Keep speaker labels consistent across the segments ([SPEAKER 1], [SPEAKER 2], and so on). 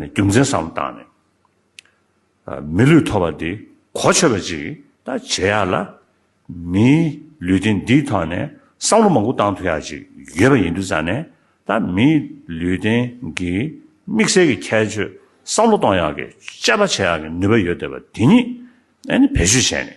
[SPEAKER 1] རྒྱུ་མཚན་བཟང་པོ་བཏང་ནས། མི་ལུས་ཐོབ་པ་འདི་གོ་ཆོད་པ་ཅིག་ད་བྱེད་ཡག་ལ། མིའི་ལུས་རྟེན་འདིའི་ཐོག་ནས་བསམ་བློ་མང་པོ་བཏང་ཐུབ་ཡག་ཅིག་ཡོད་པ་ཡིན་འདུག་ས་ནས་ད་མིའི་ལུས་རྟེན་གྱི་དམིགས་བསལ་གྱི་ཁྱད་ཆོས་བསམ་བློ་གཏོང་ཡག་གི་དཔྱད་པ་བྱེད་ཡག་གི་ནུས་པ་ཡོད་འདོད་པ་དེ་ཉིད་ཨ་ནི་བེད་སྤྱོད་བྱས་ནས།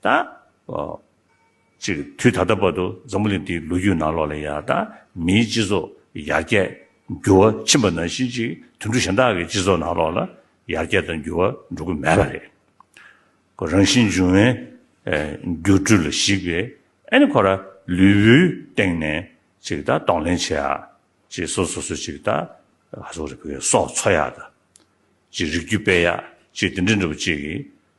[SPEAKER 1] ད་ཅིག་དུས་ད་ལྟ་བར་དུ་འཛམ་བུ་གླིང་འདིའི་ལོ་རྒྱུས་ནང་ལོགས་ལ་ཡང་ད་མིའི་སྤྱི་ཚོགས་ཡར་རྒྱས་འགྱུར་བ་ཕྱིན་པ་ནང་བཞིན་ཅིག་དུད་འགྲོ་གཞན་དག་གི་སྤྱི་ཚོགས་ནང་ལོགས་ལ་ཡར་རྒྱས་དང་འགྱུར་བ་འགྲོ་གི་མེད་པ་རེད། ཁོ་རང་བཞིན་འབྱུང་བའི་སྒྱུ་འཕྲུལ་ལ་གཞིགས་པའི་ཨ་ནི་ཁོ་ར་ལུས་པོའི་སྟེང་ནས་ཅིག་ད་གདོང་ལེན་བྱེད་ཨ་ཅིག་སོ་སོ་སོ་ཅིག་ད་ག་སོག་རི་བོའི་སོག་འཚོ་ཡག་ད་ཅིག་རིག་རྒྱུ་དཔེ་ཡག་ཅིག་དེ་འདྲ་འདྲ་བོ་ཅིག་གིས་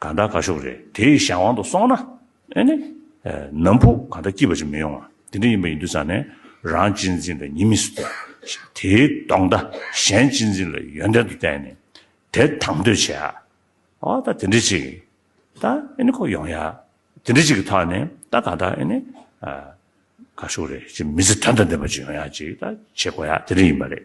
[SPEAKER 1] ག་འདྲ་ག་ཤོག་རེད་དེ་ཡི་གཞན་དབང་དུ་སོང་ན་ཨེ་ནི། ནམ་ཕུག་ག་འདྲ་སྐྱིད་པ་ཅིག་མི་ཡོང་ང་དེ་འདྲ་ཡིན་པ་ཡིན་དུས་ས་ནས་རང་གཅེས་འཛིན་ལ་ཉི་མི་སུ་བལྟ། དེའི་ལྡོག་ཟླ་གཞན་གཅེས་འཛིན་ལ་ཡོན་ཏན་དུ་བལྟས་ནས་དེ་དང་དོད་བྱས་ཨ། ཨོ་ད་དེ་འདྲ་ཅིག་ད་ཨེ་ནི་ཁོ་ཡོང་ཡ་དེ་འདྲ་ཅིག་གི་ཐོག་ནས་ད་ག་འདྲ་ཨེ་ནི། ག་ཤོག་རེད་ཅིག་མི་ཚེ་དོན་དང་ལྡན་པ་ཅིག་ཡོང་ཡ་ཅིག་ད་བྱེད་དགོས་ཡ་དེ་འདྲ་ཡིན་པ་རེད།